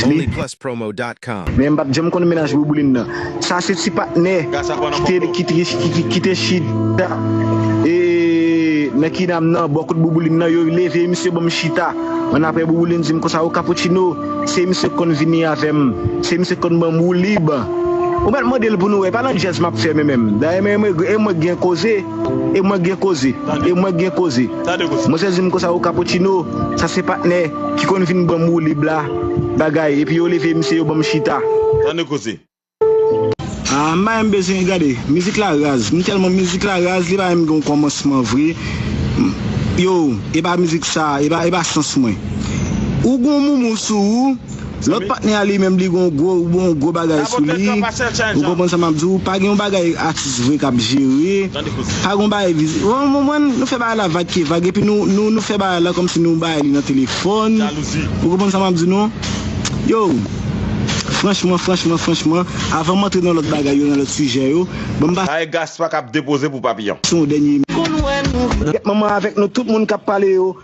li. Men mpap janm konn mennaj Bouboulin nan. Sa se ti patnè ki te chita nan kinam nan bò kot Bouboulin nan yo leve misye banm chita an aprè Bouboulin dim konsa o Cappuccino se misye ki konn vini avèm se misye ki konn banm woulib ou mèt mandel pou nou wè e pa nan djazz map fè menm dayè mwen gen koze e mwen gen koze e mwen gen koze. Mwen sezi m konsa o Cappuccino, sa se patnè ki konn vin banm woulib la, bagay, epi yo leve misye yo banm chita. Ah m pa menm bezwen gade, mizik la raz, m tèlman mizik la raz li pa menm gen yon kòmansman vre, yow e pa mizik sa, e pa sans mwen. Ou gen yon moumou sou ou. Lòt patnè a li menm li gen yon gwo yon gwo bagay sou li ou konprann sa map di w pa gen yon bagay atis vre kap jere pa gen yon bagay viz ou konprann nou fè bagay la vag ke vag epi nou nou fè bagay la kòmsi nou bay li nan telefòn ou konprann sa map di nou yow franchman franchman franchman avan m antre nan lòt bagay yo nan lòt sijè yo ban m pase yon dènye mèt manman avèk nou tout moun kap pale yo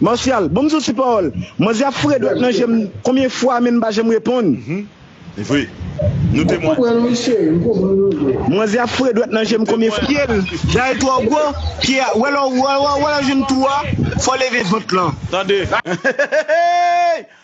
Martial, bonm diw ti pawol. Manzè ap foure dwèt nan jem konbyen fwa menm pa janm reponn. Humm vre Nou temwen. Manzè ap foure dwèt nan jem konbyen fwa. Pyel dayè twò gwo, pye a, wè lè w wè lè w jwenn twou a, fò w leve vant lan. Tande. Hehehehehey!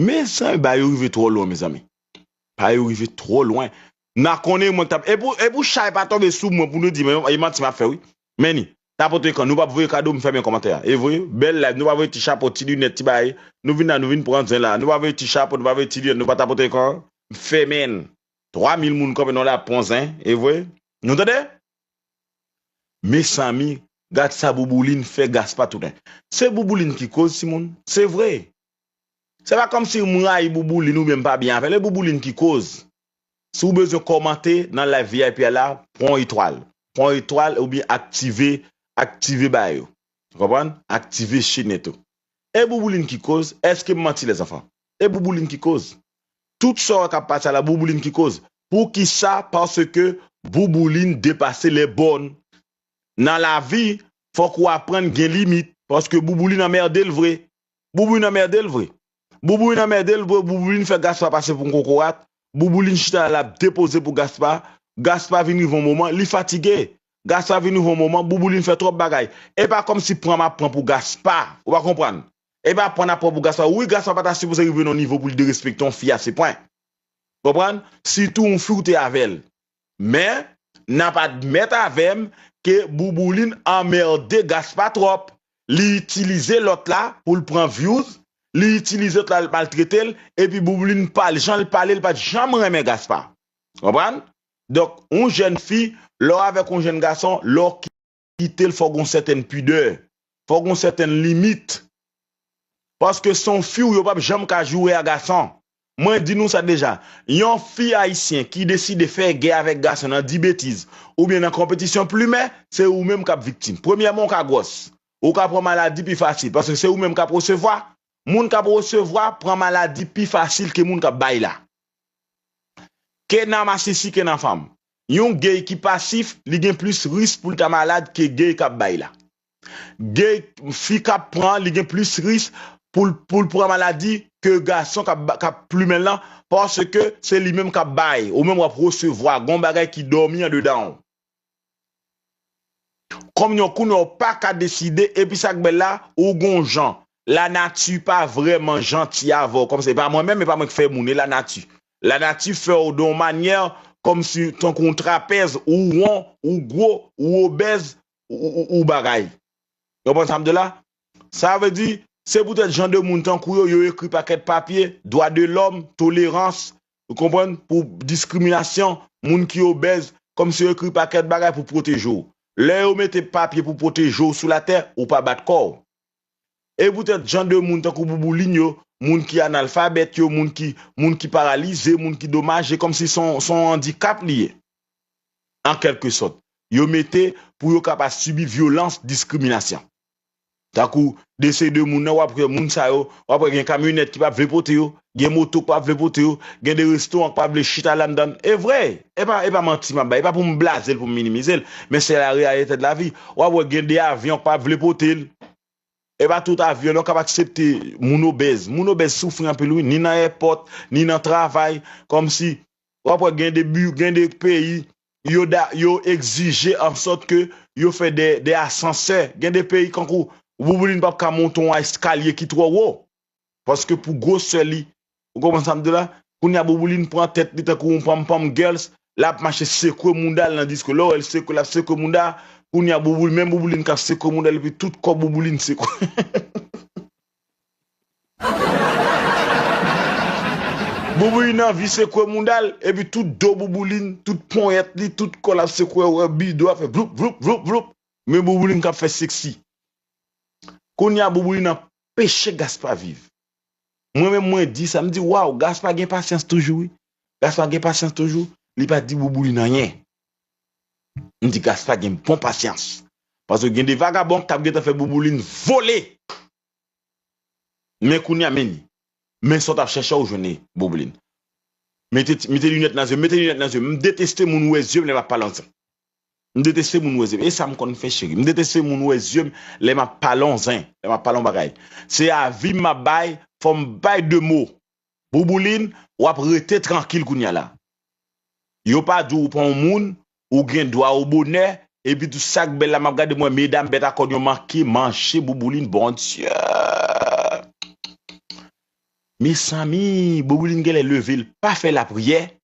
Mezanmi bagay yo rive twò lwen mezanmi Bagay yo rive twò lwen M ta konnen mwen k tap E pou chay pa tonbe sou mwen pou nou di e manti m ap fè wi Men ni Tapote ekran nou pa voye kado m fèmen kòmantè a e voye Bèl layf nou pa voye ti chapo ti linèt ti bagay Nou vin la nou vin pran zen la nou pa voye ti chapo nou pa voye ti linèt nou pa tapote ekran an m fèmen l 3 mil moun kòmantè nou la pran zen e voye Nou tande. Mesami gad sa boubouline fè gaspa tounen se boubouline ki koz timoun se vre se pa kòmsi m rayi boubouline oubyen m pa byen avèl e boubouline ki koz si w bezwen kòmante nan live vip a la pran yon etwal pran yon etwal oubyen aktive aktive bagay yo ou konprann aktive chenèt ou e boubouline ki koz èske m manti lèzanfan E boubouline ki koz. Tout sa wap kap pati a la boubouline ki koz. Pou kisa paske boubouline depase les bornes. Nan lavi fok ou aprann gen limit paske boubouline anmerdel vre. Boubouline anmerdel vre. Boubouline anmerdel vre boubouline fè Gaspard pase pou yon kokorat. Boubouline chita la lap depoze pou Gaspard. Gaspard vin rive yon moman li fatige. Gaspard vin rive yon moman boubouline fè trop bagay. Epa komsi pran map pran pou Gaspard. Ou pa konprann. Epa pwan nan pwan pou gason wi gason an pata sipoze rive nan nivo poul derespekte yon fi ase pwen konprann sitou yon fi ou te avèl men nap admèt avèm ke boubouline anmerde gaspa tròp li itilize lòt la poul pran vyouz li itilize lòt la lap maltretel epi boubouline pale janl pale li pat janm renmen gaspa konprann donk yon jèn fi lèw avèk yon jèn gason lèw kite l fò gon sètèn pidè, fò gon sètèn limit. Paske se yon fi w yo pap janm ka joure a gason. Mwen di nou sa deja, yon fi ayisyen ki deside fè gè avèk gason nan di betiz oubyen nan konpetisyon plimè, se ou menm kap viktim. Premyèman ou ka gwòs, ou ka pran maladi pi fasil paske se ou menm kap resevwa, moun kap resevwa pran maladi pi fasil ke moun kap bay la. Ke nan masisi ke nan fanm. Yon gay ki pasif li gen plis risk poul ta malad ke gay kap bay la. Gay fi kap pran li gen plis risk poul poul pran maladi ke gason kap kap plumenl lan paske se li menm kap bay ou menm wap resevwa gon bagay ki domi andedanw kom yon kounye ou paka deside epi sak bel la ou gon jan lanati pa vreman janti avèw kom se pa mwen menm epa mwen ki fè moun e lanati Lanati fè w don manyè kòmsi tankou w trapèz, ou won, ou gwo, ou obèz, ou bagay. Yo konprann sa m di la? Sa vle di, se poutèt jan de moun tankou yo, yo ekri pakèt papye, dwa de lòm, tolerans, ou konprann, pou diskriminasyon, moun ki obèz, kòmsi yo ekri pakèt bagay pou pwoteje w. Lè yo mete papye pou pwoteje w sou latè, ou pa bat kò w. E poutèt jan de moun tankou Boubouline yo, moun ki analfabèt yo, moun ki moun ki paralize, moun ki domaje, kòmsi s on s on andikap li ye, an kèlke sòt, yo mete pou yo ka pa sibi vyolans diskriminasyon. Tankou dese de moun nan, w ap wè moun sa yo, w ap wè gen kamyonèt ki p ap vle pote yo, Gen moto k pa vle pote yo, gen de restoran k pa vle chita landann. E vre! E pa e pa manti m ap bay, e pa pou m blaze l, pou m minimize l, men se la reyalite de la vie. W ap wè gen de avyon k pa vle pote l. E pa tout avyon non k ap aksepte moun obèz. Moun obèz soufri anpil wi, ni nan èpòt, ni nan travay. Kòmsi, w ap wè gen de bi, gen de peyi, yo da, yo egzije an sòt ke yo fè de, de asansè. Gen de peyi kankou Bouboulin p ap ka monte yon eskalye ki twò wo. paske pou gwosè li ou konprann sa m di w la kounye a Boubouline pran tèt li tankou yon panmpanm girls lap mache sekwe mouda l nan disko lè w wè l sekwe lap sekwe mouda a kounye a Boubouline menm Boubouline kap sekwe mouda l epi tout kò Boubouline sekwe. Boubouline anvi sekwe mouda l epi tout do Boubouline tout ponyèt li tout kò l ap sekwe ou wè bi do a ap fè vloup vloup vloup vloup men Boubouline kap fè seksi kounye a Boubouline ap Peche Gaspa viv. Mwen menm mwen di sa, m di waw Gaspa gen pasyans toujou wi. Gaspa gen pasyans toujou, li pa di Boubouline anyen. M di Gaspa gen bon pasyans. Paske gen de vagabon k tap gentan fè Boubouline vole. Men kounya men li. Men sa w tap chèche a ou jwenn li Boubouline. Mete mete linèt nan zye m, mete linèt nan zye m. M deteste moun wè zye m lè map pale ansanm. M deteste moun wè zyem. E sa m konn fè cheri. M deteste moun wè zyem lè m ap pale on zen, lè m ap pale on bagay. Se avi m m ap bay, fò m bay de mo. Boubouline, w ap rete trankil kounya la. Yo pa di w ou pa on moun, ou gen dwa ou bonè, epitou sa k bèl la m ap gade m wè medam bèt a kòn yo manke manche Boubouline Bondye! Mezanmi! Boubouline genlè leve l pa fè lapriyè,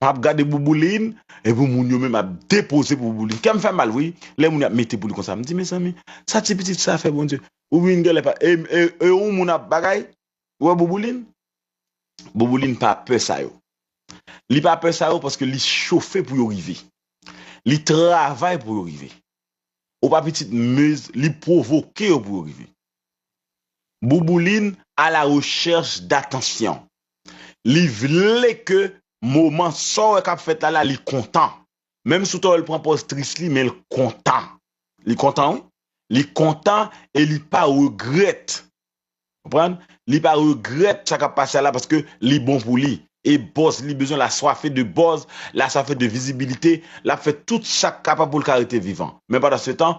Map gade boubouline epi moun yo menm ap depoze pou boubouline kèm fè mal wi lè moun yo ap mete pou li konsa mdi mezanmi sa ti pitit sa fè bondye boubouline gèlè pa e yon moun ap bagay ou wè boubouline boubouline pa pè sa yo li pa pè sa yo paske li chofe pou yo rive li travay pou yo rive ou pa pitit mezn li provoke yo pou yo rive. Boubouline a la recherche d'attention. Li vle ke moman sa w wè k ap fèt la la li kontan. Menm si w ta wè l pran pòz tris li men l kontan. Li kontan wi. Li kontan e li pa regrèt. Konprann? Li pa regrèt sa k ap pase a la paske li bon pou li. E buzz li bezwen l aswafe de buzz, l aswafe de vizibilite, l ap fè tout sa k kapab pou l ka rete vivan. Men pandansetan,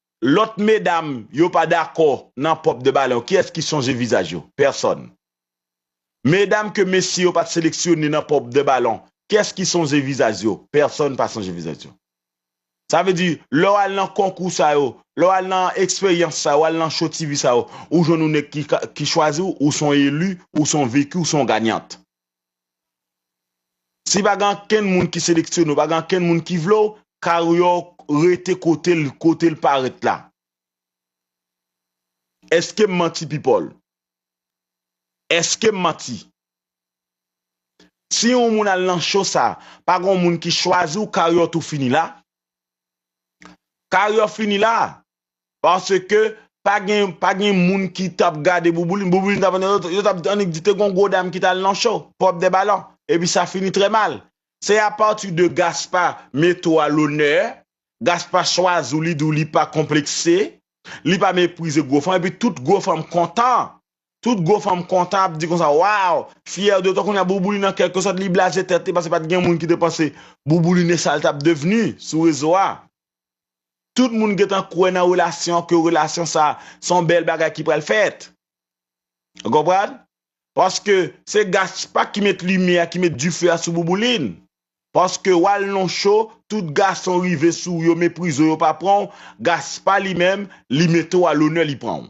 Lot medam yo pa dako nan pop de balew kiyes ki sonje vizaj yo? Pèsòn. Medam ke mesye yo pat seleksyone nan pop de balon kiyes ki sonje vizaj yo? Pèsòn pa sonje vizaj yo. Sa vle di lè w al nan konkou sa yo, lè w al nan eksperyans sa yo, w al nan show TV sa yo, ou jwenn yon nèg ki chwazi w, ou son elu, ou son veku, ou son gagnant. Si pa gen ankenn moun ki seleksyone w, pa gen ankenn moun ki vle w, karyè w rete kote l, kote l parèt la. Eske m manti pi Paul? Eske m manti? Si yon moun al nan show sa, pa gen yon moun ki chwazi w karyè w tou fini la. Karyè w fini la. Paske pa gen pa gen moun ki tap gade Bouboulin, Bouboulin tap annik, yo tap annik di te gon gwo dam ki tal nan show, Pop de Ballon, epi sa fini trè mal. Se a pati de Gaspa mete w a lonè, Gaspa chwazi w li di w li pa konplekse, li pa meprize gwo fanm epi tout gwo fanm kontan, tout gwo fanm kontan ap di konsa waw, fyè de tò kounye a Bouboulin an kèlke sòt li blaze tèt li paske pat gen moun ki te panse Bouboulin e sa l tap devni sou rezo a. Tout moun gentan kwè nan relasyon ke relasyon sa son bèl bagay ki pral fèt. Ou konprann? Paske se Gaspard ki met limyè a ki met dife a sou Boubouline. Paske wal non cho tout gason rive sou ou yo meprize w yo pa pranw Gaspard li menm li mete w a lonè li pranw.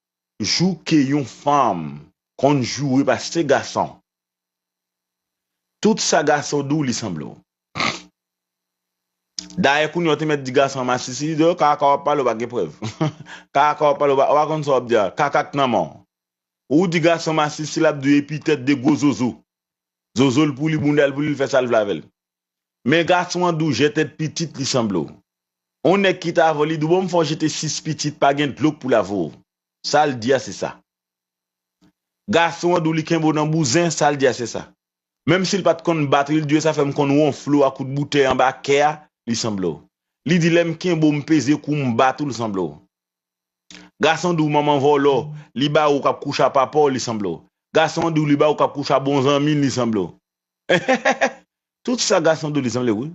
jou ke yon fanm konn joure pase gason tout sa gason di w li sanble w dayè kounye w te mèt di gason masisi li di w kaka wap pale w pa gen prèv kaka wap pale w pa konn sa wap di a kaka k nan men w ou di gason masisi lap di w epitèt de gwo zozo zozo l pou li bounda l pou li l fè sa l vle avè l. Men gason an dou jèt et pitit li sanble w on nèg ki ta avèw li di w bon m fè w jete 6 pitit pa gen dlo k pou lave w sa l di a se sa gason an di w li kenbe w nan bouzen sa l di a se sa menm si l pat konn batri l di w e sa fè m konn wonfle w a kout boutèy anba kè a li sanble w li di lè m kenbe w m peze kou w m bat ou l sanble w gason an di w manman vòlò li ba ou kap kouche a papa w li sanble w gason an di w li ba ou kap kouche a bon zanmi l li sanble w. Eheheheh tout sa gason do li sanble wi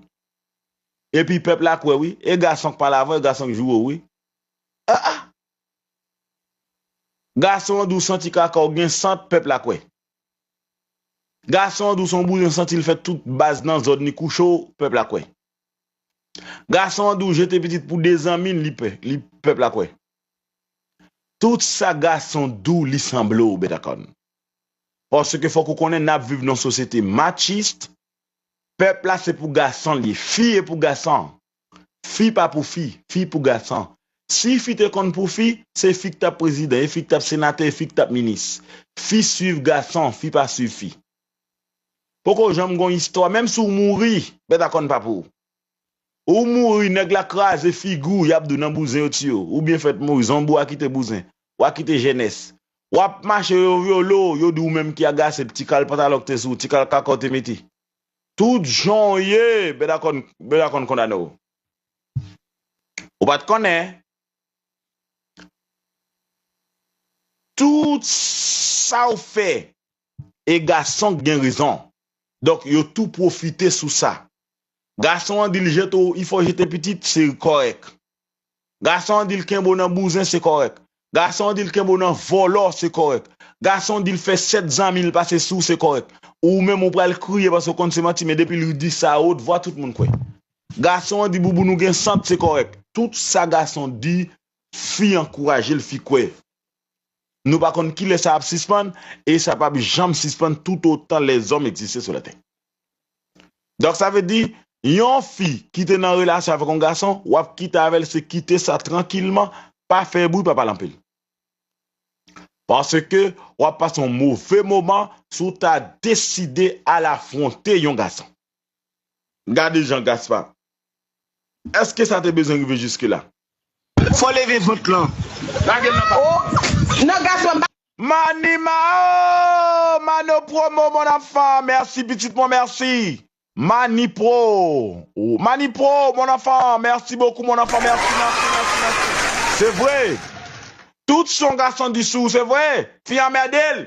epi pèp la kwè wi e gason k pale avan e gason k joure w wi ah ah gason an di w santi kaka w gen sant pèp la kwè gason an di w son bouyon santi l fè tout baz nan zòn li kouche w pèp la kwè gason an di w jete pitit pou 2 zanmi l li pè li pèp la kwè tout sa gason di w li sanble w bètakòn. Paske fòk ou konnen nap viv nan sosyete machiste, pèp la se pou gasan liye, fi e pou gasan, fi pa pou fi, fi pou gasan. Si fi te konn pou fi, se fi ki tap prezidan, e fi ki tap senatè, e fi ki tap minis. Fi swiv gasan, fi pa swiv fi. Poko janm gon istwa, menm si w mouri, bèt a kòn pa pou ou. Ou mouri nèg la kraze figi w yap di w nan bouzen yo tiye w ou byen fèt mouri zonbi wa kite bouzen wa kite jenès wap mache yo vyole w yo di w ou menm ki agase ti kal pantalon ki te sou w ti kal kaka w te mete tout jan w ye bèda kòn bèda kòn kondane w ou pat konnen tout sa w fè e gason k gen rezon donk yo tou pwofite sou sa gason an dil jete w i fè w jete pitit se kòrèk gason an dil kenbe w nan bouzen se kòrèk gason an dil kenbe w nan vòlò se kòrèk gason an dil fè 7 zanmi l pase sou w se kòrèk ou menm ou pral kriye paske w konn se manti men depi li di sa a wot vwa tout moun kwè gason an di bouboun ou gen sant se kòrèk tout sa gason di fi ankouraje l fi kwè Nou pa konn kilè sa ap sispann e sa pap janm sispann toutotan lèzòm egziste sou latè. Donk sa vle di, yon fi ki te nan relasyon avèk yon gason, w ap kite avè l se kite sa trankilman, pa fè bri, pa pale anpil. Paske w ap pase yon move moman si w ta deside al afwonte yon gason. Gade jan Gaspard. Eske sa te bezwen rive jiske la? Fò leve vant lan. Lage l nan pa. Oh nan Gaspard pa. Mani mao mano promo mon enfant merci pitit mwen merci mani pro mani pro mon enfant merci beaucoup mon enfant merci merci merci merci se vre tout son gason di sou ou se vre fi anmède l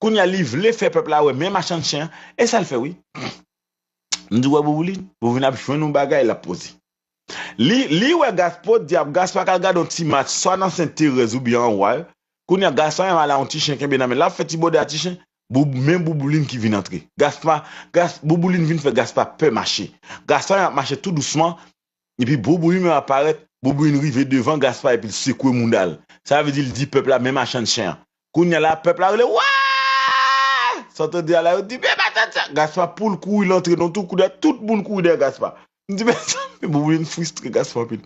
Kounya li vle fè pèp la wè men machann chen an e sa l fè wi m di wè Bouboulin Bouboulin ap jwenn yon bagay l ap poze li li wè Gaspard di ap Gaspard k al gade yon ti match swa nan Sen Terèz oubyen an Wal kounya Gaspard menm ala yon ti chen kenbe nan men l ap fè ti bòde a ti chen Boub men Bouboulin ki vin antre Gaspard Gas Bouboulin vin fè Gaspard pè mache Gaspard menm ap mache tou dousman Epi Boubouin an ap parèt, Boubouin rive devan Gaspard epi l sekwe mouda l. Sa vle di l di pèp la men machann chen an. Kounye a la, pèp la rele Wooaa! San tande a la, yo di men machann chen an! Gaspard pou l kouri l antre nan tou, kounye a tout moun kouri dèyè Gaspard. Li di mezanmi, Boubouin fristre Gaspard anpil.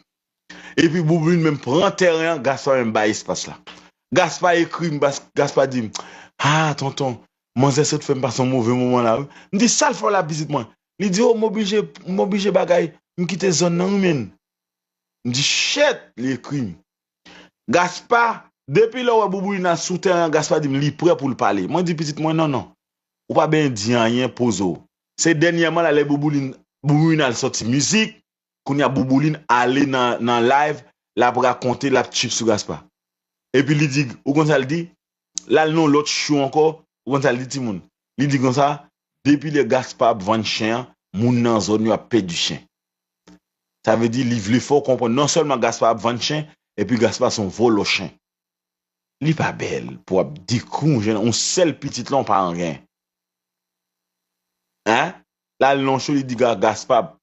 Epi Boubouin menm pran tèren an, Gaspard menm bay espas la. Gaspard ekri m, Gaspard di m, Haa tonton, manzè sot fè m pase yon move moman la wi. M di sa l fè w la pitit mwen? Li di oh m oblije m oblije bagay m kite zòn nan wi menn. M di shit li ekri m. Gaspa depi lè w wè Bouboulina sou tèren an Gaspa di m li prè pou l pale. Mwen di pitit mwen non non ou pa benyen di anyen poze w. Se dènyèman la lè Bouboulina al sòti mizik kounya boubouline ale nan nan live lap rakonte lap tchip sou gaspa epi li di ou konn sal di lal nan yon lòt show ankò ou konn sal di timoun li di konsa depi lè gaspa ap vann chen an moun nan zòn yo ap pèdi chen sa vle di li vle fèw konprann non sèlman gaspa ap vann chen epi gaspa son vòlò chen. Li pa bèl pou ap dekri yon jèn yon sèl pitit lan w pa anyen hein lal nan yon show li di gaspa ap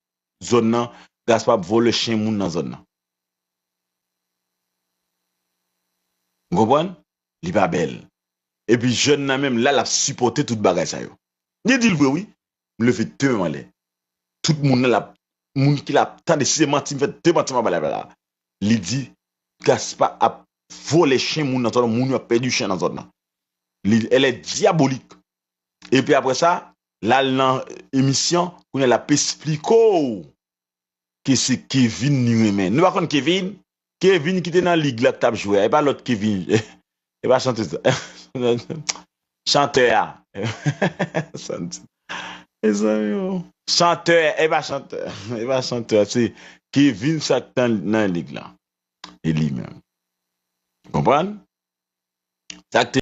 zòn nan Gaspard ap vòlè chen moun nan zòn nan nou konprann li pa bèl epi jèn nan menm la lap sipòte tout bagay sa yo li dil vre wi m leve tèm anlè tout moun nan lap moun ki lap tande si se manti m fè de manti m ap bay la li di Gaspard ap vòlè chen moun nan zòn nan moun yo ap pèdi chen nan zòn nan li elè dyabolik epi aprè sa lal nan emisyon kounya lap espliko w ke se Kevin li renmen nou pa konn Kevin Kevin ki te nan lig la tap jwe a epa lot Kevin epa chantez la chantè a mezanmi o chantè epa chantè epa chantè se Kevin sa ki te nan lig la e li menm konprann sa ki te